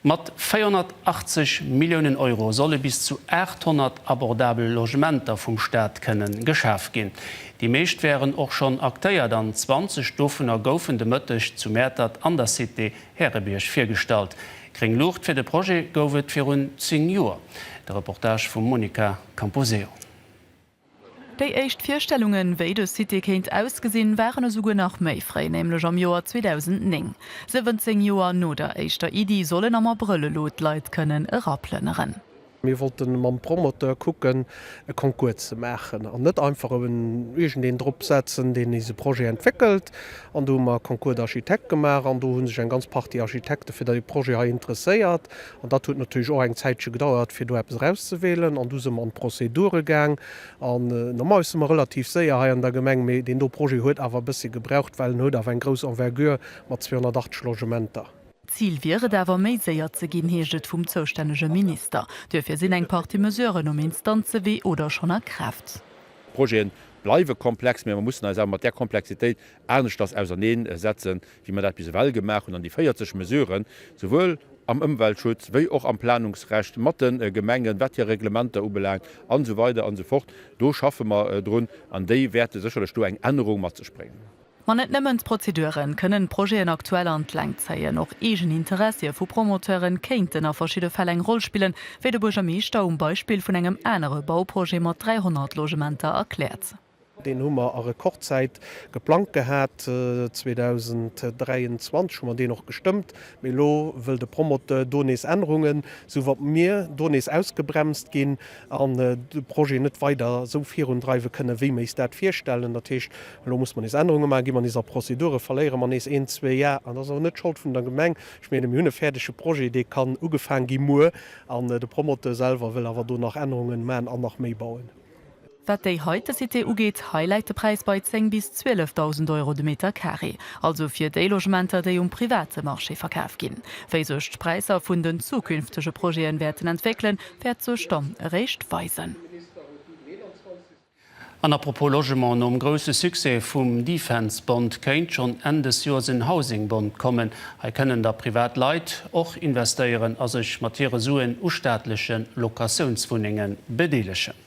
Mat 480 Milliounen Euro solle bis zu 800 abordabel Logementer vum Staat kënne geschaf ginn. Déi meescht wären och schonn aktéiert an 20 dovunner goufen de Mëtteg zu Mäertert an der Cité Härebierg virgestallt. Gréng Luucht fir de Projet gouf et virun 10 Joer. De Reportage vum Monica Camposeo. Déi éischt Virstellungen, wéi de Site kéint ausgesinn, waren esouguer nach méi fréi, nämlech am Joer 2009. 17 Joer no der éischter Iddi sollen am Abrëll elo d'Leit kënnen eraplënneren. Mir wollten mam Promoteur kucken, e Concours ze maachen an net einfach iergendeen drop setzen, deen nees e Projet entwéckelt. An do hu mer Concours d'architectes gemaach an do hu sech eng ganz Partie Architekte fir dee Projet hei interesséiert. An dat huet natierlech och eng Zäitche gedauert, fir do eppes erauszewielen. An du si mer an d'Procédure gaang. An normalerweis si mer relativ séier hei an der Gemeng, mee deen do Projet huet awer e bëssche gebraucht, well en huet awer eng grouss Envergure mat 280 Logementer. Zil wier et awer, méi séier ze ginn, heescht et vum zoustännege Minister. Duerfir sinn eng Partie Mesuren um Instanzewee oder schonn a Kraaft. D'Projete bleiwe komplex, mee mer mussen eis awer mat där Komplexitéit aneschters ausernee setzen, wéi mer dat bis ewell gemaach hunn, an déi 40 Mesuren, souwuel am Ëmweltschutz wéi och am Planungsrecht mat de Gemengen, wat hir Reglementer ubelaangt an esou weider an esou fort, do schaffe mer drun an déi wäerte sécherlech do eng Ännerung mat sech bréngen. Ma net nëmmen d'Prozedure kënnen d'Projeten aktuell an d'Längt zéien, och eegen Interessie vu Promoteure kéinten a verschidde Fäll eng Roll spillen, wéi de Buergermeeschter um Beispill vun engem anere Bauprojet mat 300 Logementer erkläert. Deen hu mer a Rekordzäit geplangt gehat. 2023 hu mer deen och gestëmmt, mee elo wëll de Promoteur do nees Ännerungen, sou wa mir do nees ausgebremst ginn an de Projet net weider esou virundreiwe kënnen, wéi mir eis dat virstellen. Dat heescht, elo musse mer nees Ännerunge maachen, gi mer nees a Prozedure, verléiere mer nees een, zwee Jar. An dat ass awer net d'Schold vun der Gemeng. Ech meenen, mir hunn e fäerdege Projet, dee kann ugefaang gi muer, an de Promoteur selwer wëll awer do nach Ännerungen maachen an nach méi bauen. Wat déi heite Cité ugeet, hei läit de Präis bei 10 bis 12.000 Euro de Meter Carré, also fir déi Logementer, déi um private Marché verkaf ginn. Wéi sech d'Präisser vun den zukünftege Projete wäerten entwéckelen, wäert sech dann eréischt weisen. An à propos Logement, nom grousse Succès vum Defense Bond kéint schonn Enn des Joers en Housing Bond kommen. Hei kënnen da privat Leit och investéieren a sech mat hire Suen u staatleche Locatiounswunnenge bedeelegen.